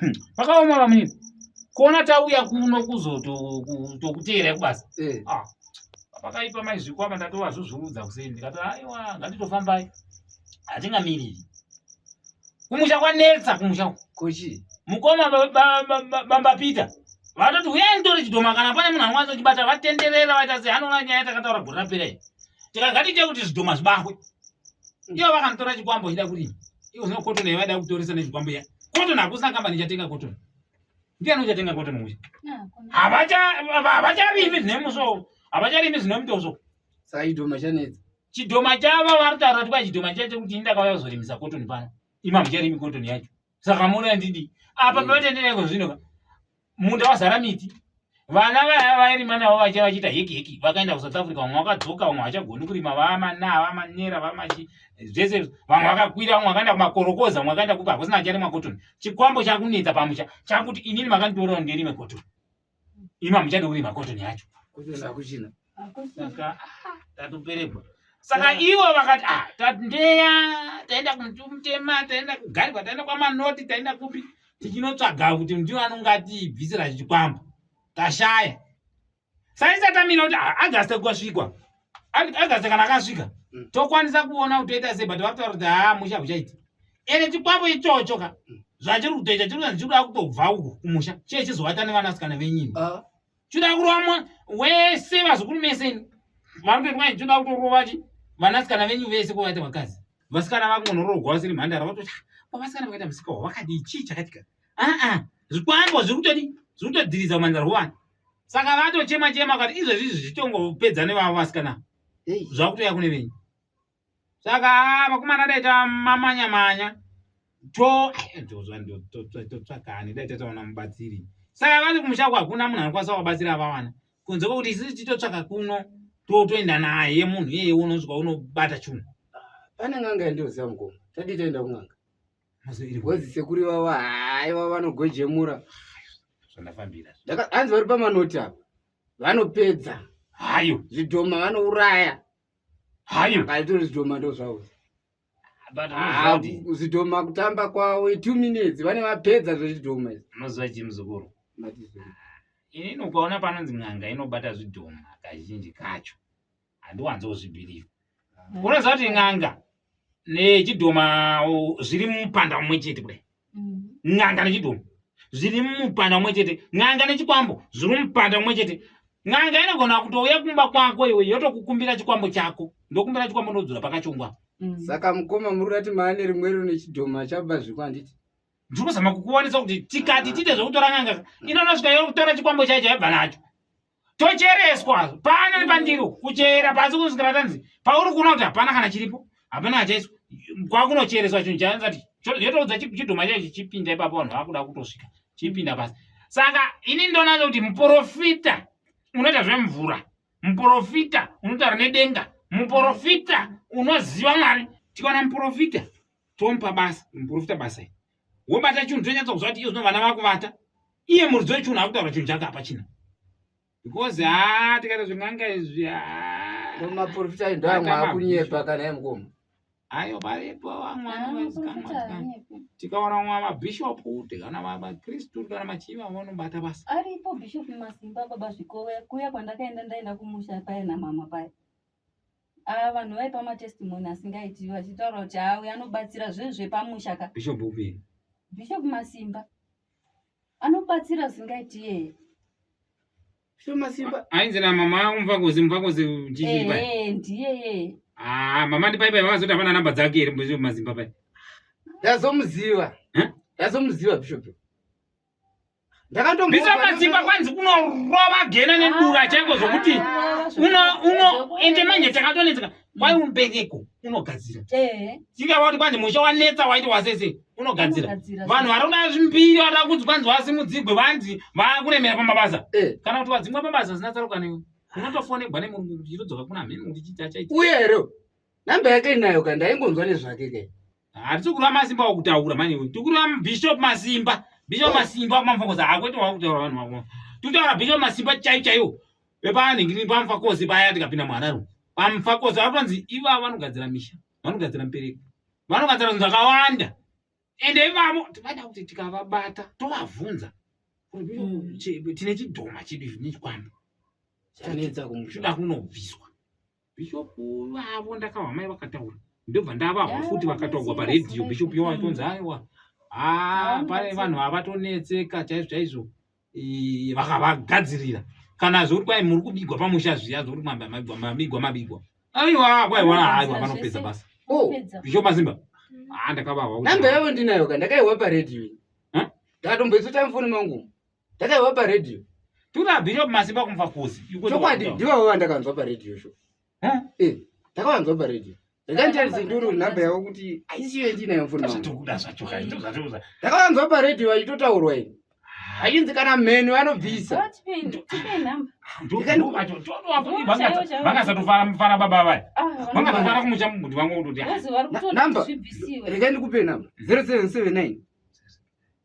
Hmm. Pakaoma vamunini. Kuona tauya kuno kuzotokuteera kubasa. Eh. Ah. Pakaipa mai zvikwama ndatova zvozviudza kuseni ndikati aiwa ngatitofambai. Hatingamiriri. Kumusha kwanetsa kumusha. Kochi. Mukoma bamba Peter. Vatoti huyai nditore chidhoma kana pane munhu anokwanisa kuchibata vatenderera vaita sehanoona nyaya takataura gore rapera iyi. Tikagati tekuti zvidhoma zvibahwe. Ndiyo vakanditora chikwambo chida kurima. Ivo zvino cotton yavada kutoresa nezvikwambo ya. Cotton hakusina kambani ichatenga cotton. Ndiani uchatenga cotton uyu? Havacha havacharimi zvine muso. Havacharimi zvine mutoso. Saidoma chanetsa. Chidoma chava vari taura kuti pachidoma chacho kuti ndakauya kuzorimisa cotton pano. Ima mucharimi cotton yacho. Saka mona ndidi. Apa mm. patendereko zvino. munda wazara miti vana vaya vairima navo vaiva vachiita heki heki vakaenda kusouth africa vamwe vakadzoka vamwe vachagoni kurima vamana vamanera vamachi zvese vamwe vakakwira vamwe vakaenda kumakorokoza vamwe vakaenda kupi hakusina acharima cotton chikwambo chakunetsa pamusha chakuti inini makanditorera ndirime cotton ima muchadi kurima cotton yacho kuchina saka ah, tatoperekwa saka ivo vakati ah, tandeya taenda kumuti mutema taenda kugarikwa taenda kwamanoti taenda kupi tichinotsvaga kuti ndiwo anonge atibvisira chichikwambo tashaya saisatamira kuti ah, agaste kwasvikwa agaste kana akasvika mm. tokwanisa kuona kuti toita sei but vakutaura kuti haa ah, musha uchaiti ene chikwambo ichocho ka mm. zvachiri kutoita chiri kutoita chiri kuda kutobva uku kumusha chee chizoata nevanasikana venyini ah. choda kuromwa wese vazukuru mese vanotoitwa ichoda kutorova chi vanasikana venyu vese kwavaita vakazi vasikana vakungonorogwa vasiri mhandara vatoti pavasikana vakaita musika wa vakadii chii chakatika aa zvikwambo zviri kutodi zviri kutodhiriza umanzara hwevana saka vatochema chema kati izvezvi izvi zvitongopedza nevavo vasikana zvakutoya kune venyu saka ah, vakomana dai tamamanya manya to eh, totsvakani dai tataona mubatsiri saka vati kumusha kwakuna munhu anokwanisa kuvabatsira vawana kunze kwekuti isisi titotsvaka kuno totoenda naye munhu iyeye unosvika unobata chunhu pane n'anga yandioziva mukoma tadii taenda kun'anga bcoz sekuri vava hai vava vanogojemura zvandafambira hanzi vari pamanoti ava vanopedza hayo zvidhoma vanouraya hayo aitori zidoma ndo zvawo but ah, zidoma kutamba kwawo two minutes vane vapedza zvezidoma izvi mazuva chii muzukuru inini ukaona panonzi n'anga inobata zvidhoma kazhinji kacho handiwanzi kuzvibhiriva unoziva kuti n'anga nechidhoma zviri mupanda umwe chete kudai mm. n'anga nechidhoma zviri mupanda umwe chete n'anga nechikwambo zviri mupanda umwe chete n'anga inogona kutouya kumba kwako iwe yotokukumbira chikwambo chako ndokumbira chikwambo ndodzura pakachongwa mm. saka mukoma muri kurati maane rimwero nechidhoma chabva zviko handiti ndiri kuzama kukuwanisa kuti tikati tite zvekutora n'anga inonosvika yokutora chikwambo chaicho yabva nacho tochereswa pano nepandiro kuchera pasi kunosvikira tanzi pauri kuona kuti hapana kana chiripo hapana achaiswa kwakunochereswa chinhu chaati yotoudza chidhoma chaicho chipinda ipapo vanhu vakuda kutosvika chipinda pasi saka ini ndonaza kuti muprofita unoita zvemvura muprofita unotaura nedenga muprofita unoziva mwari tikaona muprofita tomupa basa muprofita basa wobata chinhu tonyatsa kuziva kuti iye zvino vana vakuvata iye muridzi wechinhu akutaura chinhu chake hapachina because ha tikaita zvin'anga izvi hamaprofita ayi ndo amwe akunyepa kana ye mukoma ayo paripo vamwanatikaona mwa mabhishopu tikana vakristu tikana machii vamwe vanobata basa aripo bhishopu masimba baba zvikove kuya kwandakaenda ndaenda kumusha paye namama paye Ava vanhu vaipa matestimony asingaiti vachitaura kuti haa uyo anobatsira zvinhu zvepamusha ka. Bishop upi? Bishop Masimba. Anobatsira zvingaiti yeye. Bishop Masimba. Ainzi na mama umvakozi umvakozi chichi pa. Eh ndiye yeye. Ah mama ndi paipai vakazoti hapana namba dzake iri Bishop Masimba pai. Ndazomuziva. Huh? Ndazomuziva Bishop. Bishop Masimba kwanzi unorova gena nedura ah, chaiko zvokuti ah, ah, uno ende manje takatonetseka kwai mubereko unogadzira eh. tingava kuti kwanzi musha wanetsa waiti wasese unogadzira vanhu vari kuda zvimbiri vari kuzi kwanzi wasimudzigwe vanzi vakuremera pamabasa eh. kana kuti wadzingwa pabasa zina tsaruka newe unotofonegwa nemurungu kuti chitodzoka kuna mheni kuti chiti achaita uye here namba yake inayo ka ndaingonzwa nezvake ke Hatisi kureva masimba wakutaura mani iwe. Tikureva Bishop Masimba. Bishop Masimba kumamfokoza hakwete wakutaura vanhu vako. Tikutaura Bishop Masimba chai chaiyo. Vepanhi ngini pamfakozi paya tikapinda muhararo. Pamfakozi vatonzi iva vanogadzira misha. Vanogadzira mpereko. Vanogadzira zvinhu zvakawanda. Ende ivamo tivada kuti tikavabata tovavhunza. Mm. Tine chidhoma chedu izvi nechikwambo. Chanetsa kumusha. Kuda kunobviswa. bishop vavo ndakava mai vakataura ndobva ndavahwa futi vakataurwa paredhiyo bishop yo vaitonzi aiwa haa pane vanhu vavatonetseka chaizvo chaizvo vakavagadzirira kana zvokuti kwai muri kubigwa pamusha zviya zvokuti mabigwa mabigwa aiwa kwaiwa aiwa vanopedza basa oh, bishop mazimba mm. haa ah, ndakavahwa namba yavo ndinayo ka ndakaihwa paredhiyo ndakatomboitsotamfoni mangu Ndakaiva pa radio. Tuna bishop masimba kumva kuzi. Chokwadi ndivo vandakanzwa pa radio show. Eh? Eh, ndakavanzwa pa radio. Ndakatarise nduru number yavo kuti aisiyo yandinayo mfoni. Zvatokuda zvacho kai. Ndakavanzwa pa radio vachitotaurwa ini. Hainzi kana mheni vanobvisa. Vakasatofara mufara baba vaya. Ah, Vakatofara kumusha mumbuti vangu kutoti. Number. Rega ndikupe number. 0779.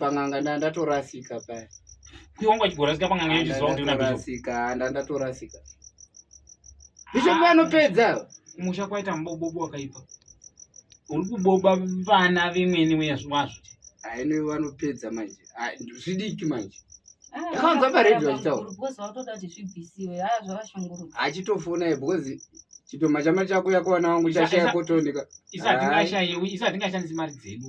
pan'anga nda ndatorasika paya kuiwanga uchigorasika pan'anga yechizoaasika nda ndatorasika isho vanopedza kumusha kwaita mubobobo wakaipa uri kuboba vana vemwene wazvo aine vanopedza manje zvidiki manje akanza ah, paredhi vachitaura achitofona because chitoma chama chako yakuwana wangu chashaya kotoneka isati ngashandisi mari dzedu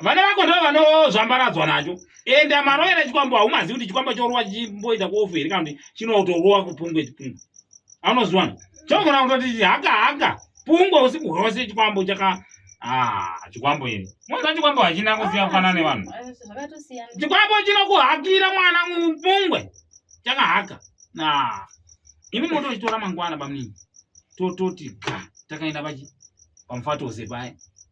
vana vako ndo vanozvambaradzwa nacho and amaroyera chikwambo haumazivi kuti chikwambo chorowa chimboita kuofu here kana kuti chinotorowa kupungwe chipungwe anozviwana chogona kutoti haka haka pungwe usiku hwose chikwambo chaka ah, chikwambo ini moza chikwambo hachina kusiya ah, kufanana nevanhu chikwambo chinokuhakira mwana mupungwe chakahaka na imi motochitora mangwana bamunini tototi ga takaenda pachi pamufatoze paya